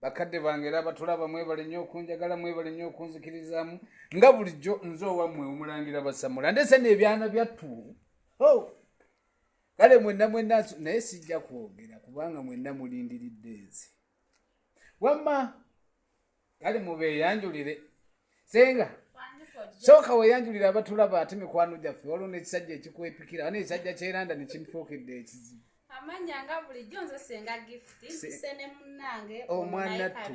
bakadde bange era abatulaba mwebale nnyo okunjagala mwebale nnyo okunzikirizaamu nga bulijjo nze owammwe omulangira basamula ndese neebyana byattu oh! kale mwenna mwenna naye sijja kwogera kubanga mwenna mulindiridde nze wamma kale mubeeyanjulire senga sooka weyanjulira abatulaba ate mikwano gyaffe waliwo n'ekisajja ekikwepikira ane ekisajja kyeranda nekimufuukidde ekizibu omwanattu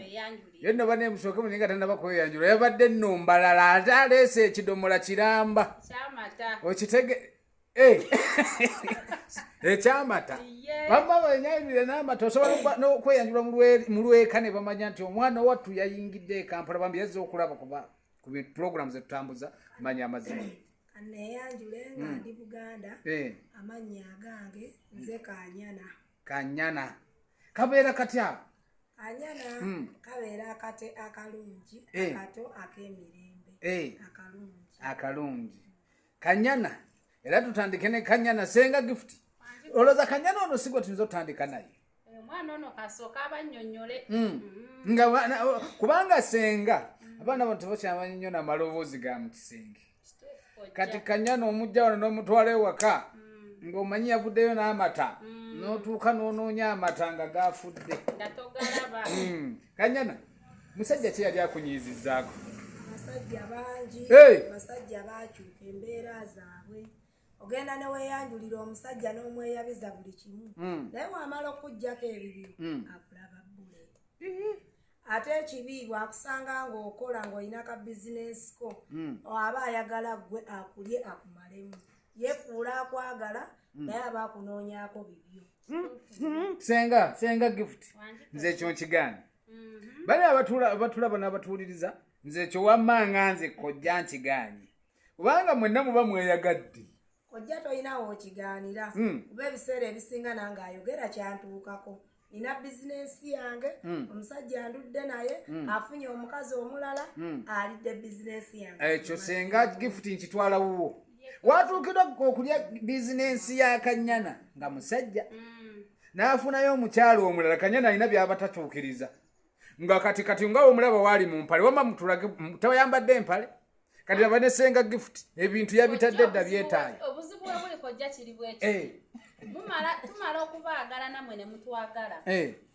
yonna bane musooke munye nga tanaba kweyanjula yabadde nno mbalala ate aleese ekidomola kiramba okitege Eh. ekyamata bamma wenyayirire n'amata osobola nokweyanjula mu lweka ne bamanya nti omwana wattu yayingidde ekampala bambi yazza okulaba kuba ku pulogulamu zetutambuza manya amazima aneyanjule nga hmm. ndi buganda eh. amannya agange nze kanyana kanyana kabeera katya anyana hmm. kabeera akate akalungi eh. akato ak'emirembe akalungi akalungi kanyana era tutandike ne kanyana senga gift oloza kanyana ono sigwe tuyinza otutandika naye eh, hmm. hmm. nga kubanga senga abaana bano tebakyamanyi nnyo namaloboozi ga mukisenge kati kanyana omujja wano n'omutwala ewaka hmm. ng'omanyi yavuddeyo n'amata n'otuuka n'onoonya amata nga gafudde kanyana musajja ki yali akunyiizizaako abasajja bangi abasajja baakyuka embeera zaabwe ogenda ne weeyanjulira omusajja n'omweyabiza buli kimu hmm. naye wamala okukugyako ebibyo hmm. akulaba bbule ate ekibi bwakusanga ng'okola ng'olina ka bizinensi ko hmm. aba ayagala ggwe akulye akumalemu yefuula akwagala naye aba akunoonyaako bibyo senga senga gift nze ekyo nkigaana mhm. bali abatulaba n'abatuwuliriza nze ekyo wamma nga nze kojja nkigaanyi kubanga mwenna muba mweyagadde kojja tolinawo okigaanira hmm. kuba ebiseera ebisinga nange ayogera kyantuukako nina bizinensi yange hmm. omusajja andudde naye hmm. afunye omukazi omulala alidde bizinensi yange ekyo senga gifuti nkitwala wuwo watuukira okulya bizinensi ya kanyana nga musajja mm. n'afunayo omukyalo omulala kanyana alina byaba tatuukiriza nga kati kati nga omulaba waali mu mpale wama mutulage tewayambadde empale kati laba ne senga gift ebintu yabitadde dda byetaayo obuzibu webulikojja kiri bwekyo eh. tumala okubaagala namwe ne mutwagala eh.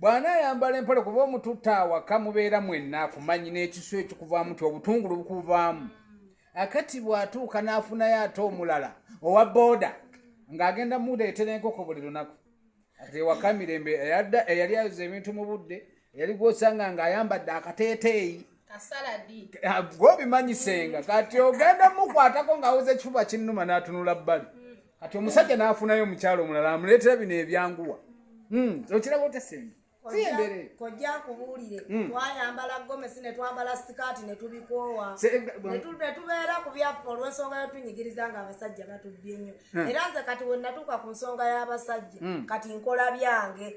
bw'anaayambala empale kuba omututte awaka mubeera mwenna akumanyi n'ekisu ekikuvaamu ti obutungulu bukuvaamu akati bw'atuuka n'afunayo ate omulala owa booda ng'agenda muleetera enkoko buli lunaku ati ewaka mirembe eyadda eyali ayoza ebintu mu budde eyali gw'osanga ng'ayambadde akateeteeyi ah, gwobimanyisenga kati ogenda mukwatako ng'awoza ekifuba kinnuma n'atunula bbali kati omusajja n'afunayo omukyalo omulala amuleetera bino ebyanguwa hmm, okiraba otesembe kojja akubuulire hmm. twayambala gomesi netwambala sikaati netubikoowa netubeera ku byaffe olwensonga yotunyigiriza nga abasajja batubbye nnyo hmm. era nze kati wenatuuka ku nsonga y'abasajja hmm. kati nkola byange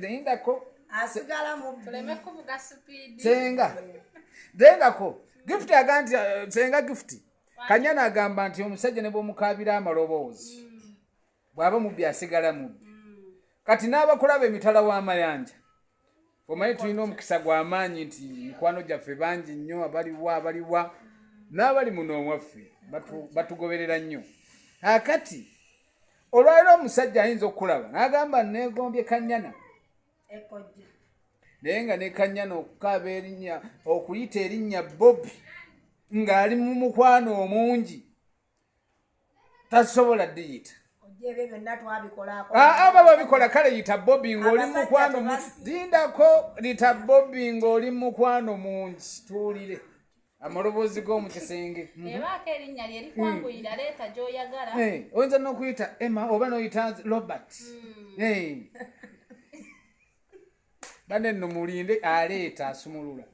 nendako senga nendako gift aga nti eh, senga gift kanyana agamba nti omusajja ne bwomukabira amaloboozi mm. bwaba mubbi asigala mubbi mm. kati n'abakulaba emitala w'amayanja omanyi tulina omukisa gw'amaanyi nti mikwano gyaffe bangi nnyo abaliwa abaliwa n'abali muno omwaffe batugoberera nnyo akati olwaliro omusajja ayinza okukulaba n'agamba neegombye kanyana naye nga nekanyana okukaaba erinnya okuyita erinnya bobi ng'ali mu mukwano omungi tasobola diyita aba babikola kale yita bobi ngaoli mukwano lindako lita bobi ngaoli mukwano mungi tuwulire amaloboozi g'omu kisenge mhm. eh. eh, oyinza nokuyita emma oba noyita robert hmm. eh. bane nomulinde aleeta asumulula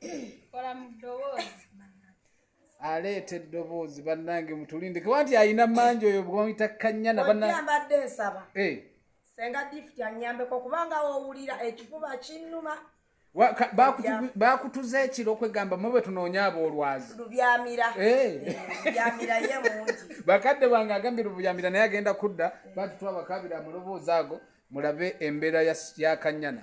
aleeta eddoboozi bannange mutulinde kuba nti alina mangi oyo bwamuyita kanyana bannambadde nsaba eh. senga difti anyambeko kubanga wowulira ekifuba kinnuma bakutuza ekiro okwegamba mwe bwe tunoonya aboolwazi eh. bakadde bange agambye lubyamira naye agenda kudda batutwa bakabira amuloboozi ago mulabe embeera ya kanyana